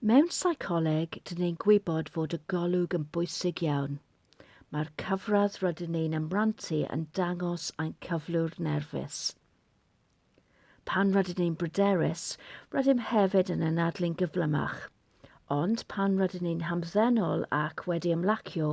Mewn seicoleg, dyn ni'n gwybod fod y golwg yn bwysig iawn. Mae'r cyfradd rydyn ni'n ymrantu yn dangos ein cyflwr nerfus. Pan rydyn ni'n bryderus, rydym hefyd yn anadlu'n gyflymach. Ond pan rydyn ni'n hamddenol ac wedi ymlacio,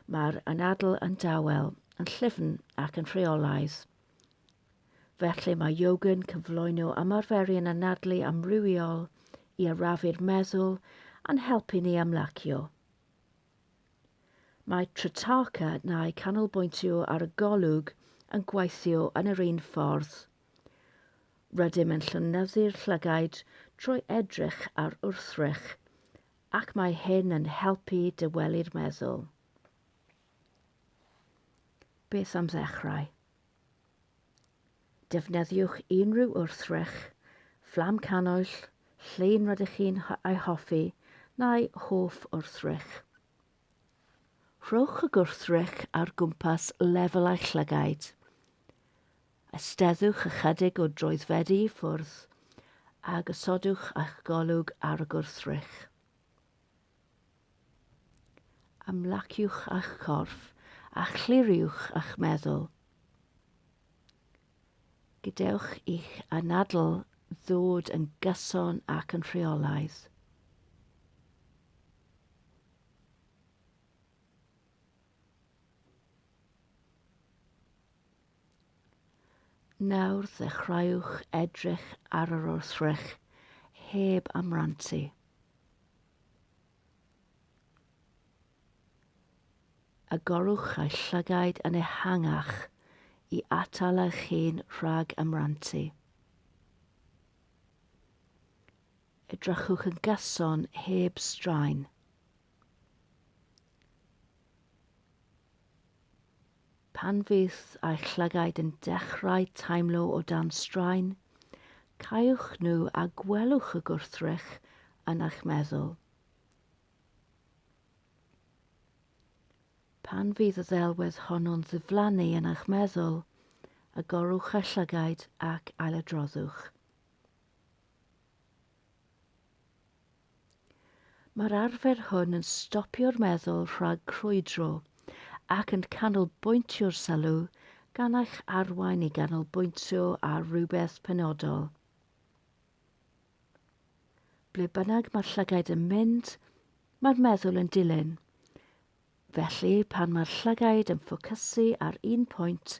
mae'r anadl yn dawel, yn llyfn ac yn rheolaidd. Felly mae yoga'n cyflwyno ymarferion anadlu amrywiol i arafu'r meddwl a'n helpu ni ymlacio. Mae Trataka neu canolbwyntio ar y golwg yn gweithio yn yr un ffordd. Rydym yn llonyddu'r llygaid trwy edrych ar wrthrych ac mae hyn yn helpu dywelu'r meddwl. Beth am ddechrau? Defnyddiwch unrhyw wrthrych, fflam cannwyll, llun rydych chi'n ei hoffi neu hoff wrthrych. Rhowch y gwrthrych ar gwmpas lefel eich llygaid. Ysteddwch ychydig o droedfeddi i ffwrdd a gosodwch eich golwg ar y gwrthrych. Ymlaciwch â'ch corff a chliriwch â'ch meddwl. Gadewch i'ch anadl ddod yn gyson ac yn rheolaidd. Nawr ddechreuwch edrych ar yr wrthrych heb amrantu. Agorwch eich llygaid yn ehangach i atal eich hun rhag amrantu. Edrychwch yn gyson heb straen. Pan fydd eich llygaid yn dechrau teimlo o dan straen, cauwch nhw a gwelwch y gwrthrych yn eich meddwl. Pan fydd y ddelwedd honno'n ddiflannu yn eich meddwl, agorwch eich llygaid ac ailadroddwch. Mae'r arfer hwn yn stopio'r meddwl rhag crwydro ac yn canolbwyntio'r sylw gan eich arwain i ganolbwyntio ar rywbeth penodol. Ble bynnag mae'r llygaid yn mynd, mae'r meddwl yn dilyn. Felly, pan mae'r llygaid yn ffocysu ar un pwynt,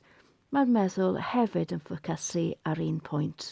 mae'r meddwl hefyd yn ffocysu ar un pwynt.